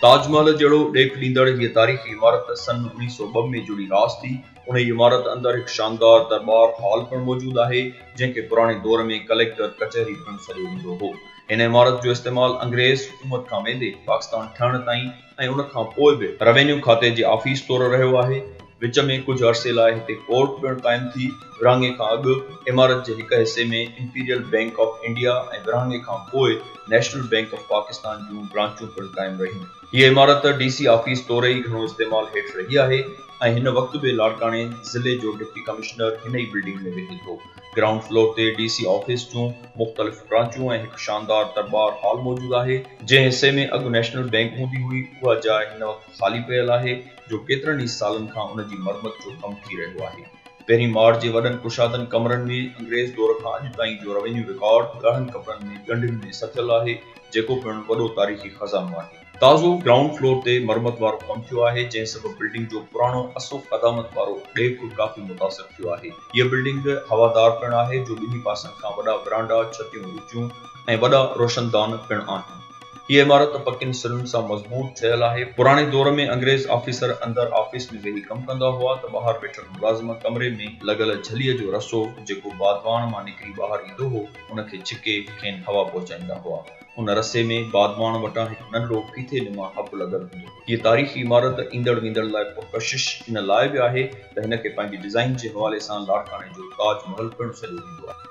تاج محل جهڙو ڏيک ڏيندڙ هيء تاريخي عمارت سن اڻيهه سؤ ٻه ۾ جڙي راس ٿي. انهيء عمارت اندر هڪ شاندار درٻار هال پڻ موجود آهي، جنهن کي پراڻي دور ۾ ڪليڪٽر ڪچهري پڻ سڏيو ويندو هو. هن عمارت جو استعمال انگريز حڪومت کان ويندي پاڪستان ٺهڻ تائين، ۽ ان کان پوء به روينيو کاتي جي آفيس طور رهيو آهي. وچ ۾ ڪجهه عرصي لاء هتي ڪورٽ پڻ قائم ٿي. ورهاڱي کان اڳ عمارت جي هڪ حصي ۾ امپيريل بئنڪ آف انڊيا ۽ ورهاڱي کان پوء نيشنل بئنڪ آف پاڪستان جون برانچون پڻ قائم رهيون. هيء عمارت ڊي سي آفيس طور ئي گهڻو استعمال هيٺ رهي آهي ۽ هن وقت به لاڙڪاڻي ضلعي جو ڊپٽي ڪمشنر هن ئي بلڊنگ ۾ ويهي ٿو. گرائونڊ فلور تي ڊي سي آفيس جون مختلف برانچون ۽ هڪ شاندار درٻار هال موجود آهي. جنهن حصي ۾ اڳ نيشنل بئنڪ هوندي هئي، اها جاء هن وقت خالي پيل آهي، جو ڪيترن ئي سالن کان ان جي مرمت جو ڪم ٿي رهيو آهي. پهرين ماڙ جي وڏن ڪشادن ڪمرن ۾ انگريز دور کان اڄ تائين جو روينيو رڪارڊ ڳاڙهن ڪپڙن ۾ ڳنڍين ۾ سٿيل آهي، جيڪو پڻ وڏو تاريخي خزانو آهي. تازو گرائونڊ فلور تي مرمت وارو ڪم ٿيو آهي، جنهن سبب بلڊنگ جو پراڻو اصف قدامت وارو ڏيک ڪافي متاثر ٿيو آهي. هيء بلڊنگ هوادار پڻ آهي، جو ٻنهي پاسن کان وڏا ورانڊا، ڇتيون اچيون ۽ وڏا روشندان پڻ آهن. هيء عمارت پڪين سرن سان مضبوط ٺهيل آهي. پراڻي دور ۾ انگريز آفيسر اندر آفيس ۾ ويهي ڪم ڪندا هئا ته ٻاهر ويٺل ملازم ڪمري ۾ لڳل جھليء جو رسو، جيڪو بادواڻ مان نڪري ٻاهر ايندو هو، ان کي ڇڪي کين هوا پهچائيندا هئا. ان رسي ۾ بادماڻ وٽان هڪ ننڍڙو ڦيٿي نما حب لڳل هوندو هو. هيء تاريخي عمارت ايندڙ ويندڙ لاء پرڪشش ان لاء به آهي ته هن کي پنهنجي ڊزائين جي حوالي سان لاڙڪاڻي جو تاج محل پڻ سڏيو ويندو آهي.